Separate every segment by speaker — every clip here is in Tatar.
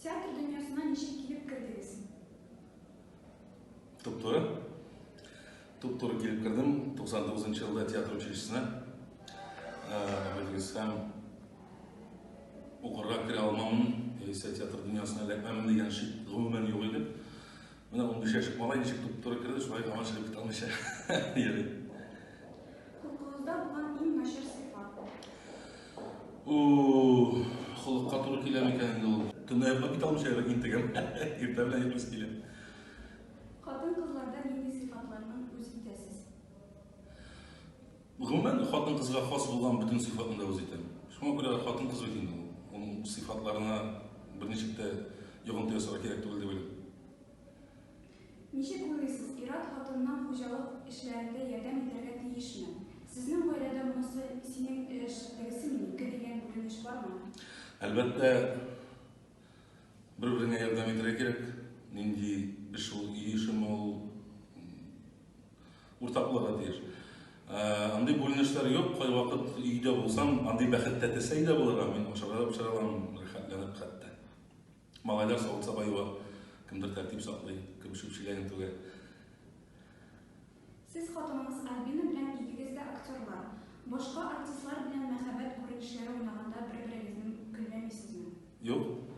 Speaker 1: Театр дөньясына ничек килеп кердегез?
Speaker 2: Туп-туры. Туп-туры килеп кердем. 99 елда театр училищесына. Белгез һәм укырга керә алмамын, яисә театр дөньясына эләкмәмен дигән шик гомумән юк иде. Менә 15 яшьлек малай ничек туп-туры керде, шулай гына чыгып китә алмыйча йөри. Холыкка туры килә микән инде ул? Төнлә йоклап китә алмыйча әле интегәм. Иртә белән йоклыйсы килә. Хатын-кызларда
Speaker 1: нинди сыйфатларны үз итәсез?
Speaker 2: Гомумән, хатын-кызга хас булган бөтен сыйфатны да үз итәм. Шуңа күрә хатын-кыз бит инде ул. Аның сыйфатларына берничек тә йогынты ясарга кирәк түгел дип уйлыйм. Ничек
Speaker 1: уйлыйсыз, ир-ат хатынның хуҗалык эшләрендә ярдәм итәргә тиешме? Сезнең гаиләдә монысы синең эш, тегесе минеке дигән күренеш бармы? Әлбәттә,
Speaker 2: бер-береңә ярдәм итәргә кирәк. Нинди эш ул, өй эшеме ул, уртак булырга тиеш. Ә, андый бүленешләр юк, кайвакыт өйдә булсам, андый бәхет тәтесәй дә булырга, мин ашарга да пешерә алам, рәхәтләнеп хәтта. Малайлар савыт-саба юа, кемдер тәртип саклый, кем чүп чиләген түгә.
Speaker 1: Сез хатыныгыз Альбина белән икегез дә актерлар. Башка артистлар белән мәхәббәт күренешләре уйнаганда бер-берегезнең көлләмисезме? Юк.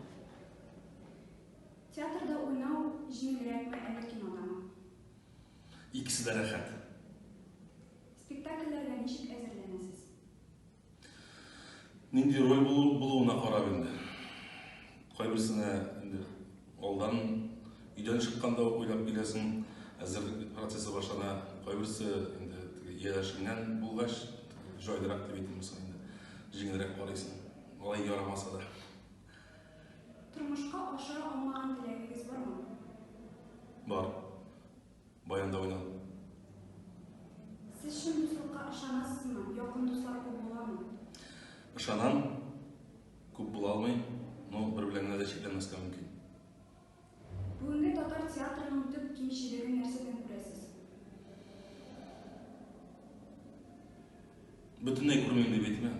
Speaker 1: Театрда уйнау җиңелрәкме, әллә кинодамы?
Speaker 2: Икесе дә рәхәт. Спектакльләргә
Speaker 1: ничек әзерләнәсез?
Speaker 2: Нинди роль булу, булуына карап инде. Кайберсенә инде алдан өйдән чыкканда ук уйлап киләсең, әзерлек процессы башлана. Кайберсе инде ияләшенгән булгач, җайлырак дип әйтим соң инде. Җиңелрәк карыйсың. Алай ярамаса да. Тормышка
Speaker 1: ашыра алмаган теләгегез бармы? Бар.
Speaker 2: Баянда уйнадым.
Speaker 1: Сез чын дуслыкка ышанасызмы? Якын дуслар күп буламы? Ышанам.
Speaker 2: Күп була алмый, но бер белән генә дә чикләнмәскә мөмкин.
Speaker 1: Бүгенге татар театрының төп кимчелеген нәрсәдән күрәсез?
Speaker 2: Бөтенләй күрмим дип әйтмәм.